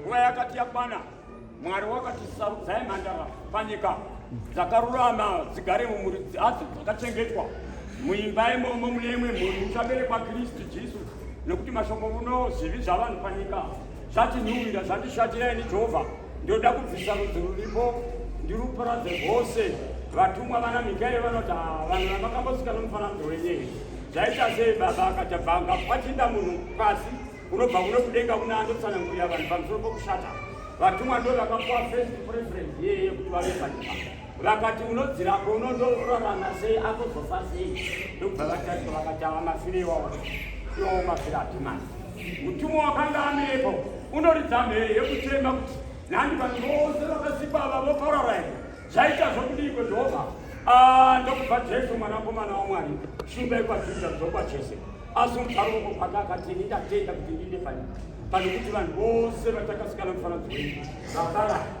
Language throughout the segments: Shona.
nguva yakati yakwana mwari wakati sarudzai mhandara panyika dzakarurama dzigare mumhuri dzadzo dzakachengetwa muimba imomo mune imwe mhuri uchaberekwa kristu jesu nekuti mashoko muno zvivi zvavanhu panyika zvatinhuwira zvandishatira ini jehovha ndoda kubvisa rudzi ruripo ndiruparadze rwose vatumwa vana mikaeri vanoti ah, vanhu vamakambosika nomufananidzo wenyei zvaita sei baba akachabvanga kwachinda munhu pasi unobva kuno kudenga kuna andotsanangurira vanhu pamusoro pokushata vatumwa ndo vakapuwa first preference yeye kuti vave panyika vakati unodzirako unondorarana sei akozofa sei ndokubva vatarisa vakati ava mafire iwawa iwawo mafire atimani mutumwa wakanga anepo unoridza mhere yekuchema kuti nhandi vanhu vose vakasikwa ava voparara here zvaita zvokudiko jehovha ah, ndokubva jesu mwanakomana wamwari shumba ikwajuda dzokwa chese asi mugaro woko kwake akati ini ndatenda kuti ndiinde pano panokuti vanhu vose vatakasikana mufananidzo wenyu vaparara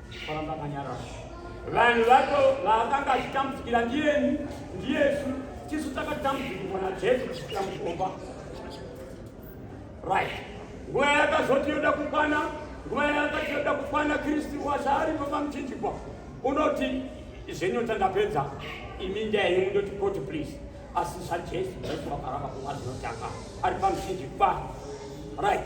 Varamba kanyara. Vanhu vacho vakanga vachitambudzikira ndiyeni ndiyesu tisu takatambudzikirwa najesu kusvikira mukomba right nguva yakazoti yoda kukwana nguva yakati yoda kukwana kristu wasaari papa muchinjikwa unoti zvenyota ndapedza imi ndiyaimu ndoti koti please asi zvajesu jesu wakaramba kuva zinotanga ari pamuchinjikwa right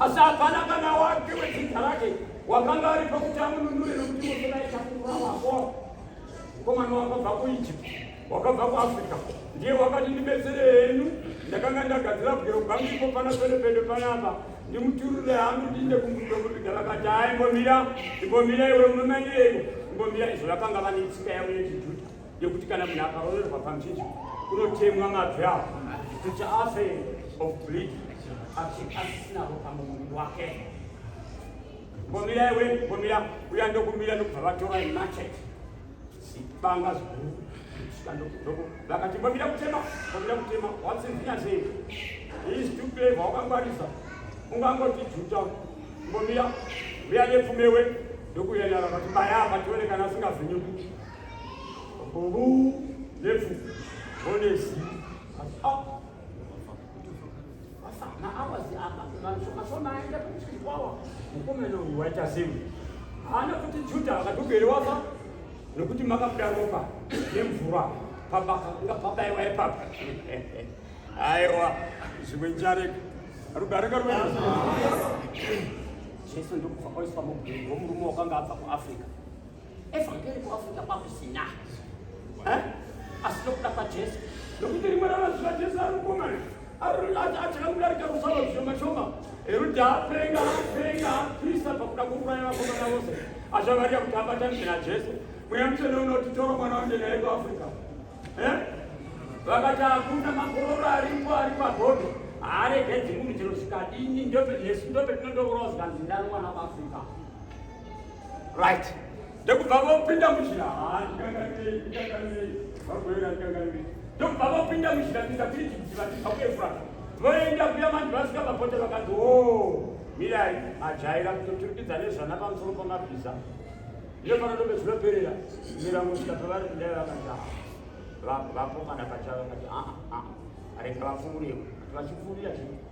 Asi hapana kana wake wedzidza rake wakanga ari pakuti amununure nokuti Mosenai chakukura wako mukomana wakabva kuEgypt wakabva kuAfrica ndiye wakati ndibetsere henyu ndakanga ndagadzira bwero bwangu ipo pana pelepele panapa ndimuturure hangu ndiinde kumbudo kuviga vakati hai imbomira imbomira iwe munomanyeiko imbomira izvo vakanga vane tsika yavo yechijuda yekuti kana munhu akaroverwa pamjiji kunotemwa mabvi avo kuti afe of bleed asisinavo pamuviri wake mbomira iwe mbomira uya ndokumira ndokubva vatora machet sibanga ziguru vakati mbomira kutema mbomira kutema watsinzinya sei is to play vawakangwarisa ungangoti juta mbomira uya nepfumewe ndokuyenara vati baya vatione kana asingazinyuki haana kuti juda akatugere wafa nokuti makabuda ropa nemvura pabaka kunga pabaiwa ipapa aiwa zvimwe njareka rugareka rwena jesu ndokufa oiswa mugugo murume wakanga abva kuafrica evhangeri kuafrika kwakusina eh? asi nokuda kwajesu nokuti rimwe ramazuva jesu ari mukomana atakamudarika kusava zvishoma shoma eruda apenga apenga apisa pakuda kuuraya vakomana vose azvavarira kuti abatanizve najesu mweya mutsvene unoti toro mwana wanje naye kuafrika eh? vakati akunda makororo aripo ari pagodo aregedzi munhu chero zvikadini ndope jesu ndope tinondourawa zvikanzi ndani mwana kuafrika right ndokubva vopinda munjira ndokubva vopinda munjira kuita kuti vachibva kuefurata voenda kuya vanhu vasvika papote vakanzi o mirai ajaira kutoturikidza nezvana pamusoro pamabhiza iyo panotobe zvinoperera mira kusvika pavari kudai vakanzi vapo kana pachava kati aa rega vafungureko vachifurira chii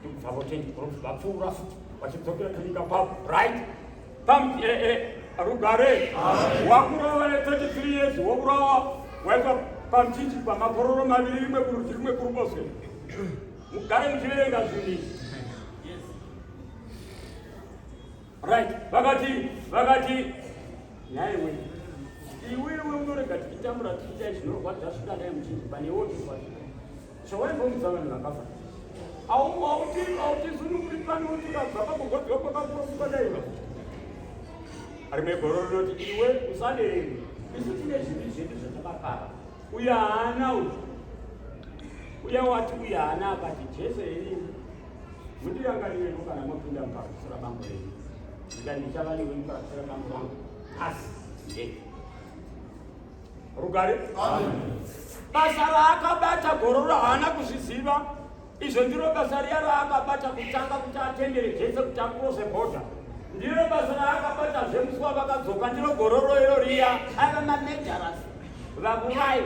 ndikubvavo tendi prof vapfuura futi vachidzokera kunyika kwavo right pam eh, eh, rugare wakurova ne 33 years wokurova waitwa pamchinji pamakororo maviri rimwe kurudyi rimwe kuruboshwe mugare muchiverenga zvinhu izvi right vakati vakati nhai we iwewe unorega tichitambura tichiita zvinorwadza zvikadai muchinji pane wotiwa Chawaimbomudza vanhu vakafa. Aumu auti auti zununguri pani uti ukabva pakugodzwa kwakakurofuka daiva. Ari megoro rinoti iwe usadeni. Isu tine zvivi zvedu zvatakakara. Uya haana uyu. Uya wati uya haana akati Jesu henyu. Mundirangarirei kana mopinda mukakusira bambo renyu. Ndikati ndichava newe mukakusira bambo vangu. Asi. Yeah. rugare basa raakabata gororo haana kuzviziva izvo ndiro basa riya raakabata kutanga kuti atendere jese kuti akurose bhodha ndiro basa raakabata zvemusuwa vakadzoka ndiro gororo iro riya ava manejaras vakuvai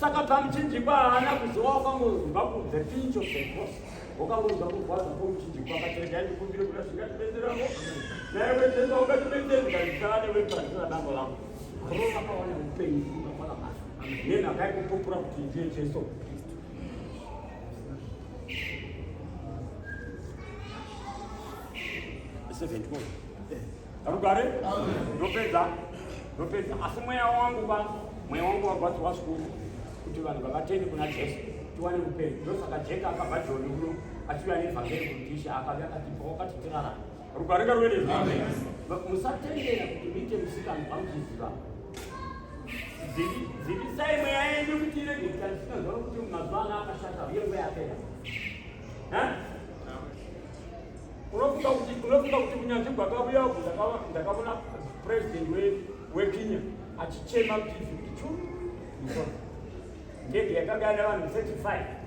saka pamuchinjikwa haana kuziva wakangozimba kunze pincho sekos wakangonzwa kurwadza kwomuchinjikwa akaterega ndikumbire kuda zvingatibetserako naye wetenda ungatibetseri ndikazvisana neweparisina dambo langu Arugare? Ndopedza. Ndopedza. Asi mweya wangu ba, mweya wangu wagwadziwa zvikuru kuti vanhu vavatende kuna Jesu tiwane upenyu. Ndosaka Jeka akabva Joni uno achiuya nevhangeri kuti Ishe akauya akatipa wakati tirarame. Rukarika rwene musatendera kuti muite musikanzwa muchiziva dzivisai mweya yenyu kuti irege kutarisika zvaro kuti mazuva ano akashata uye mweya yapera unofunga kuti unofunga kuti kunyanzvi gwakavuya uku ndakavona president wekenya achichema kuti ndege yakagara vanhu 35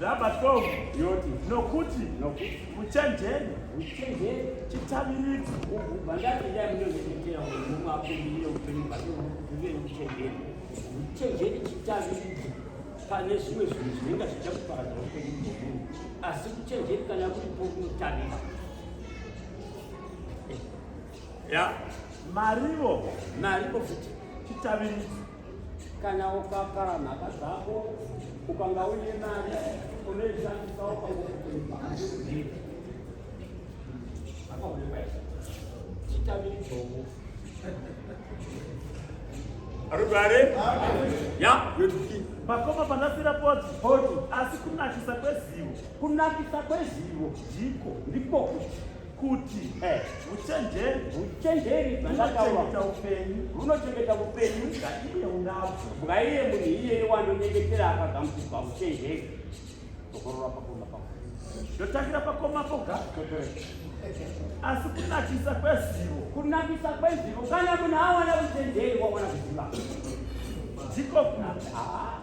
Rabatovu yoti nokuti uchenjeri uchenjeri chitaviriko vandato yainozoitira munhu akumirira upenyu hwake uve uchenjeri uchenjeri chitaviriko pane zvimwe zvinhu zvinenge zvichakuparadza upenyu hwemunhu asi uchenjeri kana kuripo unotarira ya marivo marivo futi chitaviriko Kana ukakara mhaka dzako ukanga uine mari unoishandisa ukangokuipa akaonekwa chitambiri chombo arugare ya yotuki makoma panasira poti poti asi kunakisa kwezivo kunakisa kwezivo ndiko ndiko kuti uchenjeri eh, uchenjeri bvandakaurauchengeta upenyu runochengeta upenyu ngaiye unabvo ngaiye munhu iyeye wanonyengetera akagamuchirwa uchenjeri tokorora pakoma pako ndotangira pakoma poga asi kunakisa kwezivo kunakisa kwezivo kana munhu awana uchenjeri wawana kuziva ndiko kunaa ah,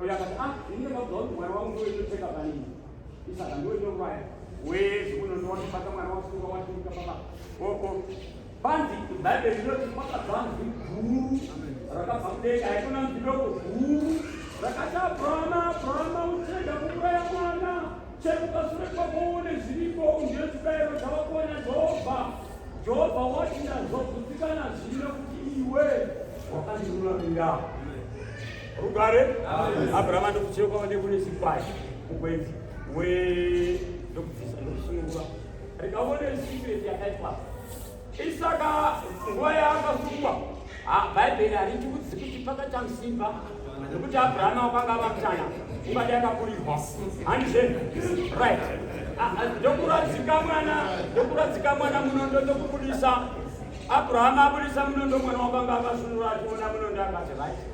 Uyu akati ah ini ndakabva kuti mwana wangu ndiwe ndoteka panini isaka ndiwe ndokubaya wezi unondowa ndobata mwana wasunga watuka papa oko panzi bhaibheri rinoti kwakabva nzi guru rakabva kudenga haikona nzi doko guru rakati abrahama abrahama uchirega kuuraya mwana chekupasure kwako uone zviripo undiyo chibayiro chawakona jehovha jehovha wati ndazobvutikana zvino kuti iwe wakandiruramirao Rugare Abraham anokucheka kwave kune chikwai mukwenzi we ndokubvisa ndokusununguka rikaone secret yakaitwa isaka nguva yaakasungwa bhaibheri hariti kudzi kuti pakachamsimba nekuti abrahama wakanga vakutana ungadi akakurirwa handizve right ndokuradzika mwana ndokuradzika mwana munondo ndokubudisa abrahama abudisa munondo mwana wakanga akasunura achiona munondo akati right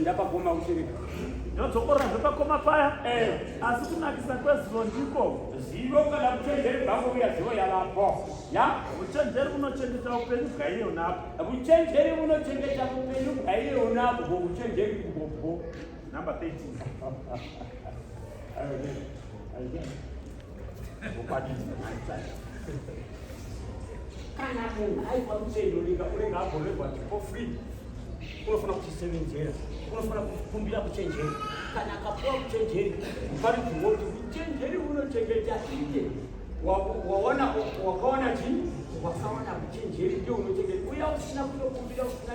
ndapakoma kuchirika ndodzokorazve pakoma paya eh. asi kunakisa kwezivo ndiko zivo kana kuchenjeri bhango uya zivo yavapo ya uchenjeri unochengeta upenyu bwaiye unapo uchenjeri unochengeta upenyu bwaiye unapo uchenjeri kubopo Number 13. kana munhu aipa mutendo linga unenge agorerwa for free unofana kuchisevenzera unofana kukumbira kuchenjeri kana akapuwa kuchenjeri pari kuoti uchenjeri unochengeta iye waona wakaona chii wakaona kuchenjeri ndio unochengeta uya usina kutokumbira usina